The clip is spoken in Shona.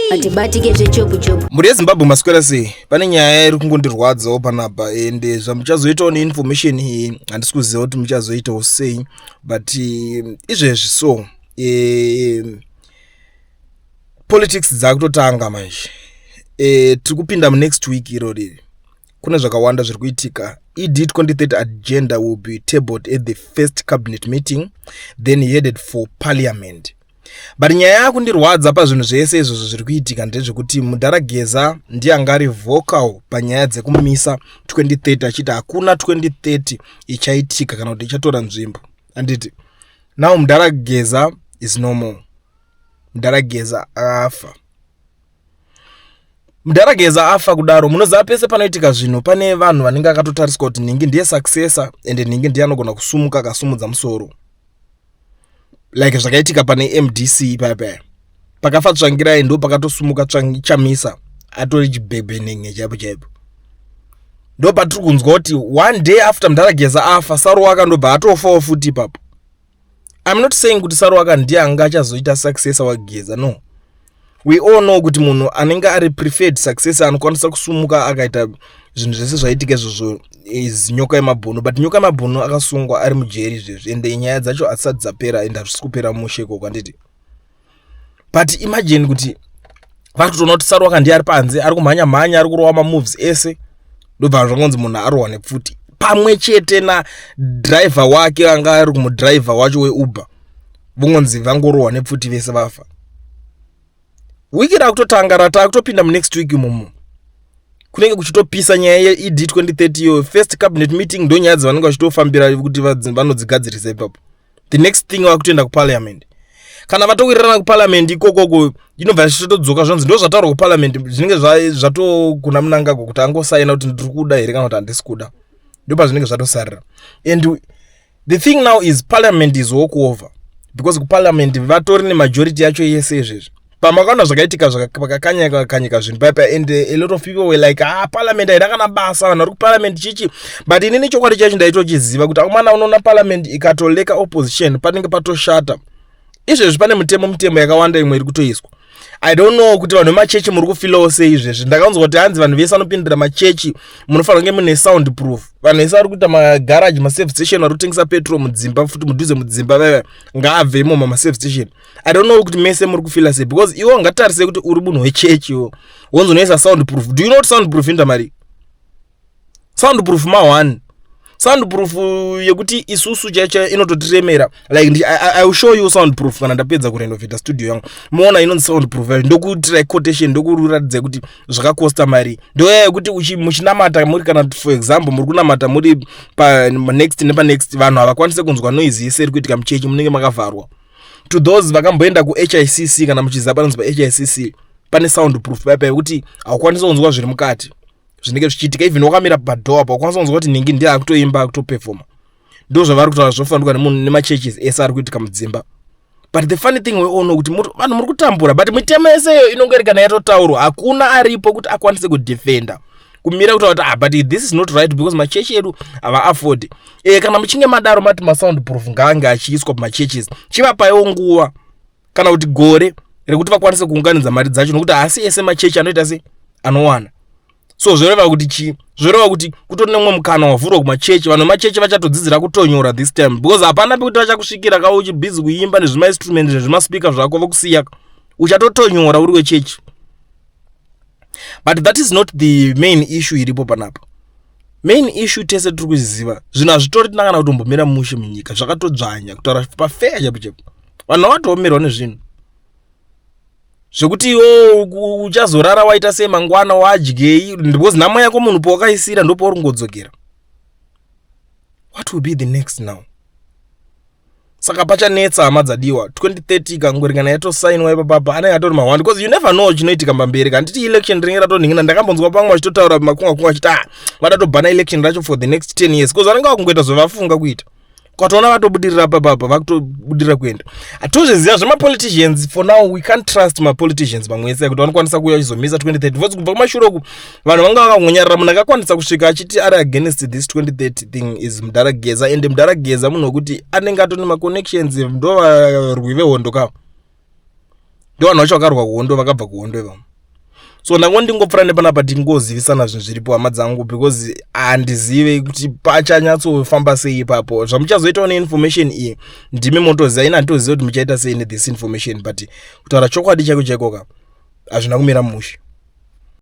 hatibatike zvechopu chopu mhuri yezimbabwe maswera sei pane nyaya iri kungondirwadzawo panapa ende eh, zvamuchazoitawo neinformation iyi eh, handisi kuziva kuti muchazoitawo sei but eh, izvezvi so e, politics dzaakutotanga manje e, tiri kupinda munext week iro riri kune zvakawanda zviri kuitika ed 23 agenda will be tabled at the first cabinet meeting then headed for parliament but nyaya yakundirwadza pazvinhu zvese izvozvo zviri kuitika ndezvekuti mudhara geza ndiye anga ari vocal panyaya dzekumisa 2030 achiti hakuna 2030 ichaitika kana kuti ichatora nzvimbo anditi now mudhara geza is normal mudhara geza afa mdara geza afa kudaro munoziva pese panoitika zvinhu pane vanhu vanenge akatotariswa kuti nhingi ndiye successor and nhingi ndiye anogona kusumuka akasumudza musoro like zvakaitika pane mdc ipaya paya pakafa tsvangirai ndo pakatosumuka chamisa atori chibhebhenenge chaipo chaipo ndo patiri kunzwa kuti one day after mdara geza afa saruwa akandobva atofawo futi ipapo I'm not saying kuti Saruwaka ndiye anga achazoita successor waGeza no we all know kuti munhu anenge ari preferred successor anokwanisa kusumuka akaita zvinhu zvese zvaitika izvozvo is nyoka yemabhunu but nyoka yemabhunu akasungwa ari mujeri izvezvi ende nyaya dzacho hatisati dzapera ende hazvisi kupera mushe ikoko handiti but imagine kuti vari kutoona kuti sarwaka ndiye ari panze ari kumhanya mhanya ari kurova mamoves ese ndobva zvakanzi munhu arohwa nepfuti pamwe chete nadriver wake anga ari kumudriver wacho weuber vongonzi vangorohwa nepfuti vese vafa wiki rakutotanga rata kutopinda munext week imomo kunenge kuchitopisa nyaya yeed 2030 iyo first cabinet meeting ndonyaya dzavanenge vachitofambira kuti vanodzigadzirisa ipapo the next thing vakutoenda kuparliament kana vatowirirana kuparliament ikokoko inobva yachitodzoka zvanzi ndo zvataurwa kuparliament zvinenge zvatokuna munangagwa kuti angosaina kuti ndiri kuda here kana kuti handisi kuda ndo pazvinenge zvatosarira and the thing now is parliament is walk over because kuparliament vatori nemajority yacho yese izvezvi pamakaona zvakaitika pakakanyika kakanyika zvinhu paya paya and eh, a lot of people were like ah parliament haina kana basa vanhu vari kuparliament chichi but inini chokwadi chacho ndaitochiziva kuti aumana unoona parliament ikatoleka opposition panenge patoshata izvezvi pane mutemo mutemo yakawanda imwe iri kutoiswa i don't know kuti vanhu vemachechi muri kufilawo sei izvezvi ndakanzwa kuti hanzi vanhu vese vanopindira machechi munofanira kunge mune sound proof vanhu vese vari kuita magaraji maserve station vari kutengesa petrol mudzimba futi mudhuze mudzimba vaiva ngaabve imomo maserve station i don't know kuti mese muri kufila sei because iwe ungatarise kuti uri munhu wechechi iwo wonzonoisa sound proof do you know kuti sound proof inda mari sound proof ma one sound proof yekuti isusu chaicho inototiremera like ndi, I, i will show you sound proof kana ndapedza kurenovata studio yangu moona inonzi sound proof yayo ndokuitira quotation ndokuratidza kuti zvakakosta mari ndoyaya yekuti muchinamata muri kana for example muri kunamata muri panext nepanext vanhu havakwanise kunzwa noise yeseri kuitika muchechi munenge makavharwa to those vakamboenda kuhicc kana muchiziva panonzi pahicc pane sound proof paya paya kuti haukwanisi kunzwa zviri mukati zvinenge zvichiitika even wakamira padoor apa ukwanisa kunzwa kuti nhingi ndiye akutoimba akutoperfoma ndo zvavari kutaura zvofanirwa nemunhu nemachurches ese ari kuitika mudzimba but the funny thing weono kuti vanhu muri kutambura but mitemo yese iyo inonge iri kana yatotaurwa hakuna aripo kuti akwanise kudefenda kumira kutaura kuti ah, but this is not right because machechi edu havaafford e, kana muchinge madaro mati masound proof ngaange achiiswa pamachurches chivapaiwo nguva kana kuti gore rekuti vakwanise kuunganidza mari dzacho nokuti haasi ese machechi anoita se anowana so zvoreva kuti chii zvoreva kuti kutori nemwe mukana wavhurwa kumachechi vanhu vemachechi vachatodzidzira kutonyora this time because hapana pekuti vachakusvikira ka uchibhizi kuimba nezvimainstrument nezvimaspeaker zvako vokusiya uchatotonyora uri wechechi but that is not the main issue iripo panapa main issue tese tiri kuziziva zvinhu hazvitori tina kana kutombomira mushe munyika zvakatodzvanya kutaura pafeya chapo chapo vanhu vavatoomerawo nezvinhu zvekuti iwo uchazorara waita sei mangwana wadyei because nhamo yako munhu powakaisira ndopauri kungodzokera what will be the next now saka pachanetsa hama dzadiwa 2030 ikangoringana yatosainwa ipapapa anenge atori mahwandi bcause you never know chinoitika mbamberi handiti election rinenge ratonhingina ndakambonzwa pamwe vachitotaura makungakunga vachiti ah vada tobhana election racho for the next 10 years bcause vanenge vakungoita zvevafunga kuita kwatoona vatobudirira papapa vakutobudirira kuenda hatozviziva zvemapoliticians for now we can't trust mapoliticians mamwe ese kuti vanokwanisa kuuya vachizomisa 2030 vozi kubva kumashure uku vanhu vanga vakangonyarara munhu akakwanisa kusvika achiti ari against this 2030 thing is mudhara geza and mudhara geza munhu wekuti anenge atone maconnections ndo varwi vehondo kavo ndo vanhu vacho vakarwa kuhondo vakabva kuhondo ivamo so ndango ndingopfura nepanapa tingozivisana zvinhu zviripo hama dzangu because handizive kuti pachanyatsofamba sei ipapo zvamuchazoitawo neinformation iyi ndimi motoziva ini handitoziva kuti muchaita sei nethisinformation but kutaura chokwadi chaiko chaikoka hazvina kumira mushe